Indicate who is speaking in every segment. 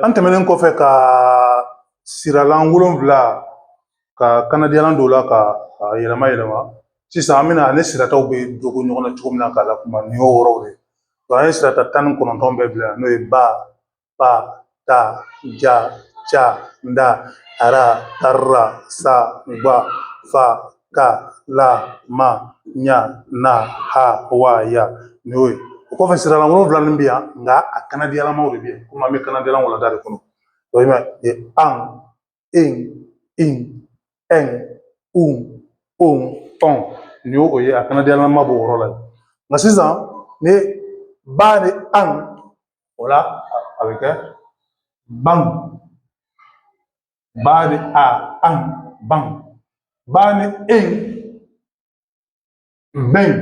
Speaker 1: an tɛmɛnen kɔfɛ ka siralan wolonwula ka kanadiyalan don o la ka a yɛlɛma yɛlɛma sisan an bɛna ani sirataw bɛ dogo ɲɔgɔn na cogo min na k'a la kuma nin y'o yɔrɔw de ye an ye sirata tan ni kɔnɔntɔn bɛɛ bila n'o ye ba pa ta ja ca da ara tarra sa gba fa ka la ma ɲa na ha wa ya nin y'o ye o kɔfɛ siralan wolonwula min bɛ yan nka a kanadiyalamaw de bɛ yen komi an bɛ kanadiyalan walanda de kɔnɔ o ye an en in ɛn un on ɔn nin y'o ye a kanadiyalama b'o yɔrɔ la nka sisan ni ba ni an o la a bɛ kɛ ban ba ni a an ban ba ni en ben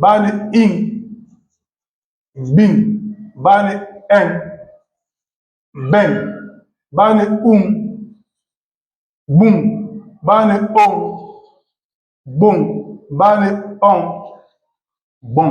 Speaker 1: ba ni in bin ba ni en ben ba ni um bum ba ni on bum ba ni on bon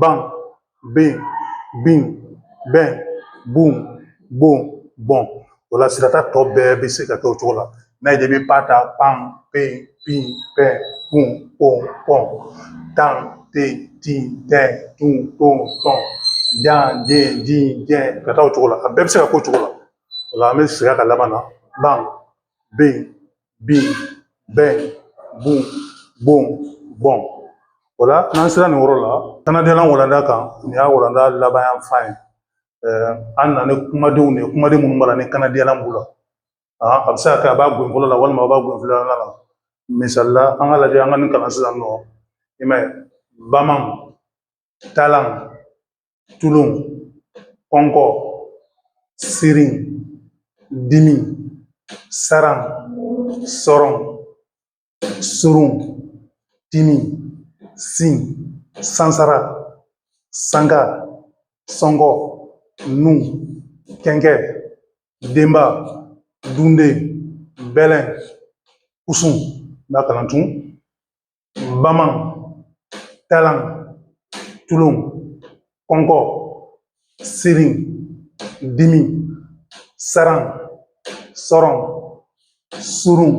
Speaker 1: ban ben bin bɛn bun bon bɔn o la sirata tɔ bɛɛ bɛ se ka kɛ o cogo la n'a ye i bɛ pa ta pan pen pin pɛn pun pon pɔn tan ten tin tɛn tun ton tɔn jan jen jin jɛn ka taa o cogo la a bɛɛ bɛ se ka k'o cogo la o la an bɛ segin a kan laban na ban ben bin bɛn bun bon bɔn o la n'an sera nin yɔrɔ la kanadiyalan walanda kan nin y'a walanda laban yan fan ye an nana ni kumadenw de ye kumaden minnu b'a la ni kanadiyalan b'u la a bɛ se ka kɛ a b'a gen fɔlɔ la walima a b'a gen filanan la misali la an ka lajɛ an ka nin kalan sisan nɔ i m'a ye baman talan tulon kɔnkɔ sirin dimin saran sɔrɔn surun timin sin sansara sanga sɔngɔ nun kɛnkɛ denba dunden bɛlɛn kusun n'a kalan tun bama talan tulon kɔnkɔ sirin dimi saran sɔrɔn surun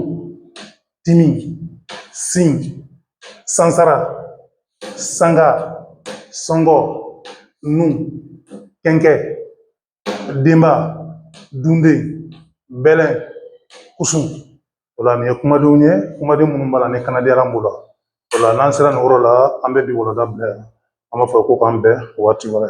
Speaker 1: dimi sin sansara sanga sɔngɔ nun kɛnkɛ denba dunden bɛlɛn kusun o la nin ye kumadenw ye kumaden minnu b'a la ni kanadiyalan b'u la o la n'an sera nin yɔrɔ la an bɛ bi walanda bila yan an b'a fɔ ko k'an bɛn waati wɛrɛ